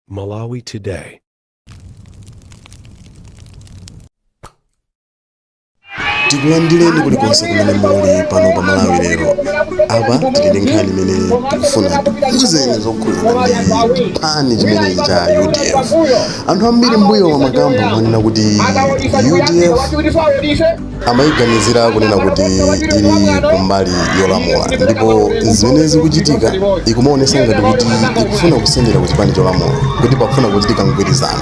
Malawi Today. tikulandireni kulikonse kumene muli pano pa malawi lero apa tili ndi nkhani imene tikufuna tikuzeni zokhuzana ndi chipani chimene cha udf anthu ambiri mbuyomu amakamba amanena kuti udf amayiganizira kunena kuti ili kumbali yolamula ndipo zimene zikuchitika ikumaonesa ngati kuti ikufuna kusendera ku chipani cholamula kuti pakufuna kuchitika mgwirizano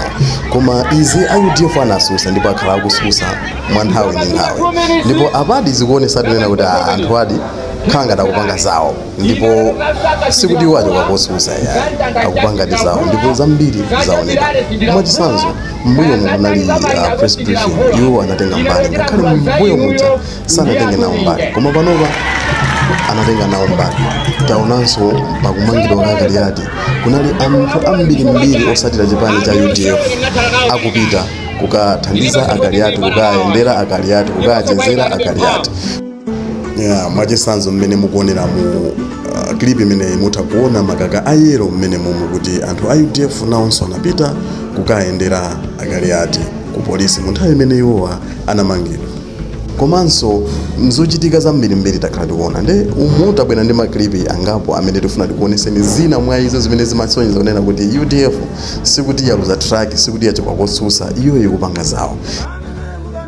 koma izi a udf anasusa ndipo akhala akususa mwa nthawi ndi nthawi ndipo apadi zikuonesa tinena kuti ah, anthu ajadi akhala ngati akupanga zawo ndipo sikuti iwo achoka kosusa yayi akupangadi zawo ndipo zambiri zaoneka mwachitsanzo mbuyomu kunali uh, press briefing iwo anatenga mbali ngakhale mbuyo muja sanatenge nawo mbali koma panopa anatenga nawo mbali taonanso pakumangidwa kwa Kaliati kunali anthu ambirimbiri osatira chipani cha udf akupita kukathandiza a Kaliati kukayendera a Kaliati kukachezera a Kaliati yeah, mwachisanzo mmene mukuonera mu uh, clip imene mutha kuona makaka a yellow mmenemumu kuti anthu a udf nawonso anapita kukayendera a Kaliati ku polisi mu nthawi imene iwowa anamangidwa komanso mzochitika zambirimbiri takhala tikuona nde umu tabwera ndi maklipi angapo amene tifuna tikuoneseni zina mwa izo zimene zimasonyeza kunena kuti udf sikuti yaluza track sikuti yachoka kotsutsa iyo ikupanga zawo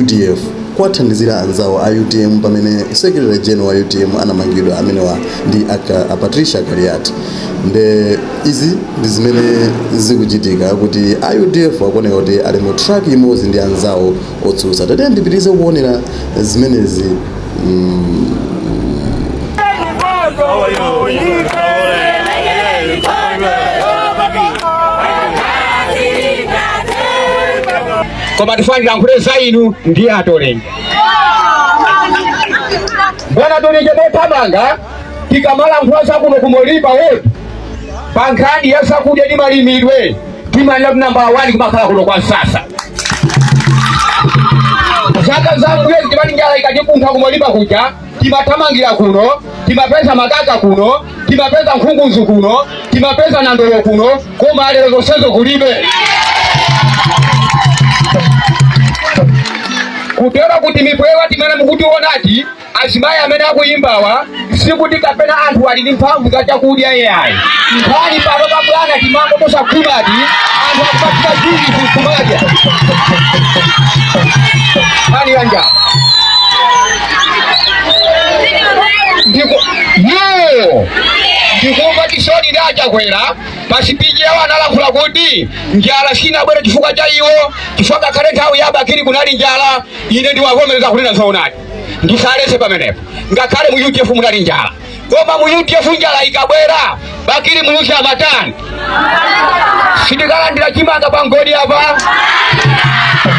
udf kuwathandizira anzawo a utm pamene secretary general wa utm anamangidwa amenewa ndi aka- a patricia kaliati nde izi ndi zimene zikuchitika kuti a udf akuoneka kuti ali mu track imodzi ndi anzawo otsutsa tatiyeni tipitirize kuonera zimenezi koma tifuna ndilankhule za inu ndi atolenga bwana tolenga mothamanga tikamalankhula zakuno ku Moriba ward pa nkhani ya zakudya ndi malimidwe timanena kuti nambala wani kumakhala kuno kwa Nsasa. Zaka zambuyo timati njala ikatikuntha ku Moriba kuja timathamangira kuno timapeza makaka kuno timapeza nkhunguzu kuno timapeza nandolo kuno koma lero zonsezo kulibe. kutero kuti mipwewa imene mukutiona ati Azimayi amene akuyimbawa sikuti kapena anthu ali ndi mphamvu za chakudya yayi. Nkhani pano pa bwana timango tosakhwimati anthu akupatira zinthu kumadya. Nkhani ya njala. Ndiko yo ndikumva chisoni ndi achakwera pa speech yawo analankhula kuti njala sinabwere chifukwa cha iwo chifukwa ngakhale nthawi ya Bakili kunali njala ine ndiwavomereza kunena zoonadi ndisaletse pamenepo ngakhale mu udf munali njala koma mu udf njala ikabwera bakili muluzi amatani sindikalandira chimanga pa ngodi apa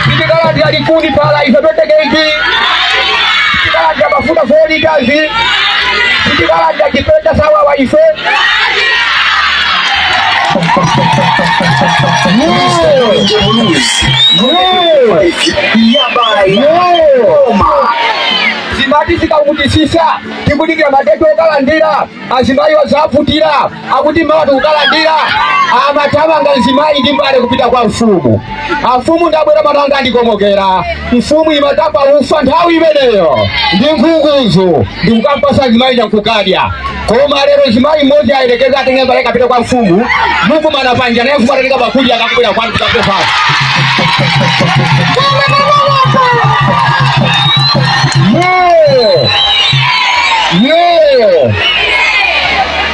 sindikalandira likuni pala ife pophika cake sindikalandira mafuta four litres sindikalandira chipeta sawawa ife zimati zikavutitsitsa tikudikira madeti okalandira azimayi azavutika akuti mawa tikukalandira amathamanga mzimayi ndi mbale kupita kwa mfumu amfumu ndabwera mwana wanga wandikomokera mfumu imatapa ufa nthawi imeneyo ndi nkhukuzo ndikumupatsa mzimayi ndikukadya koma lero mzimayi mmodzi ayerekeza atenge mbale apite kwa mfumu mukumana panja naye mfumu atatenga bakuli akakubwera kwanu kukapepala Yo! Yo!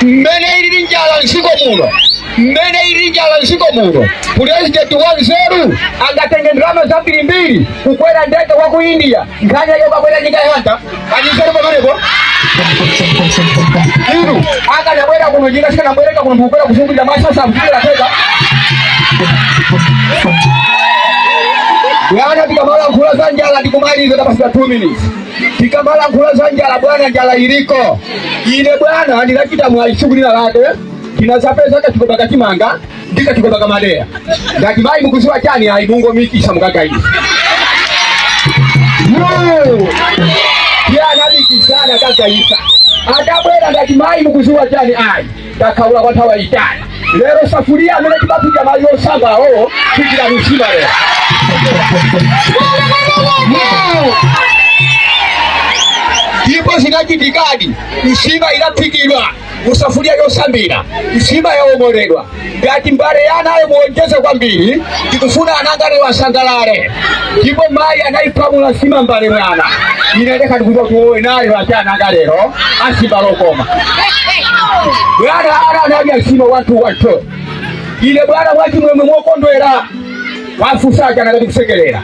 mmene ili njala nsiko muno mmene ili njala nsiko muno pulezidenti wanzeru angatenge ndalama zambirimbiri kukwera ndege wa ku India nkhani yake ukabwera ndi kayanta anisere pamenepo inu akanabwera kuno njinga sikanabwereka kuno ndikubwera kuzungulira maso asakuchitira teka Bwana tikamalankhula za njala ndikumaliza pasanathe 2 minutes. Tikamalankhula za njala bwana njala iliko. Ine bwana ndinachita mwayi siku lina lake. Tinazapeza kachigoba ka chimanga ndi kachigoba ka madeya ndati mayi mukuziwa chani ayi mungomikisa mukagayitse iye anamikisa nakagayitsa atabwera ndati mayi mukuziwa chani ayi takhaula kwa nthawi yaitali lero safuria amene timaphika madzi osamba awo tiphikira msima lero ndipo zinachitikadi msima inaphikidwa mu safuliya yosambira nsima yaomoledwa ndati mbale ya anayo muonjeze kwambiri tikufuna anangawa lero asangalale ndipo mayi anayipamula nsima mbale bwana ine nde ndikuti tiwaone nawo ati ananga lero asimba lokoma bwana ana anadya nsima ntuu ntuu ine bwana mwachimwemwe mokondwera pofunsa ana akati kusekerera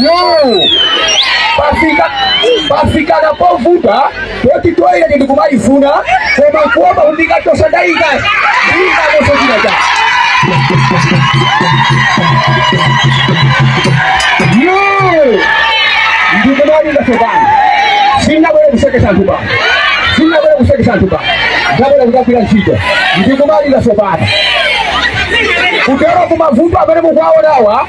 iyo pafika pafika pena povuta poti toilet ndikumaifuna koma kuomba undikatosa ndaika ndikakoso china cha iyo ndikumalima sopano sinabwere kusekesa anthu pano sindinabwere kusekesa anthu pano ndabwera kudzagwira ntchito ndikumalima sopano kutero kuti mavuto amene mukuwaonawa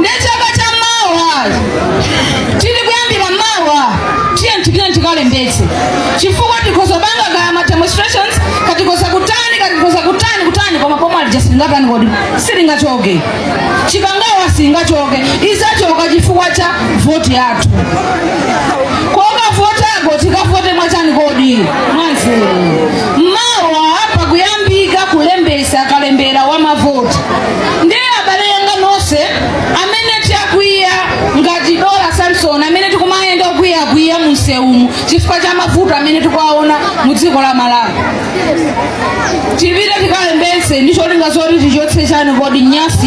nde chaka cha mawa tili kuyambira mawa tiyeni tipite tikalembetse chifukwa tikhoza kupanga kaya ma demonstrations kaya tikhoza kutani kaya tikhoza kutani kutani koma pomwe alija silingatani kodi silingachoke chikangawa singachoke izachoka chifukwa cha voti yathu kukavota kwathuko tikavote mwachani kodi mwanzeru mawa pa kukuyambika kulembesa kalembera wa mavoti ndiye abale anga nonse amene takwiya ngati dora samson amene tikumayenda okwiyakwiya munsewumu chifukwa cha mavuto amene tikuwaona mu dziko la malawi tipite tikalembetse ndi cholinga zoti tichotse chani kodi nyansi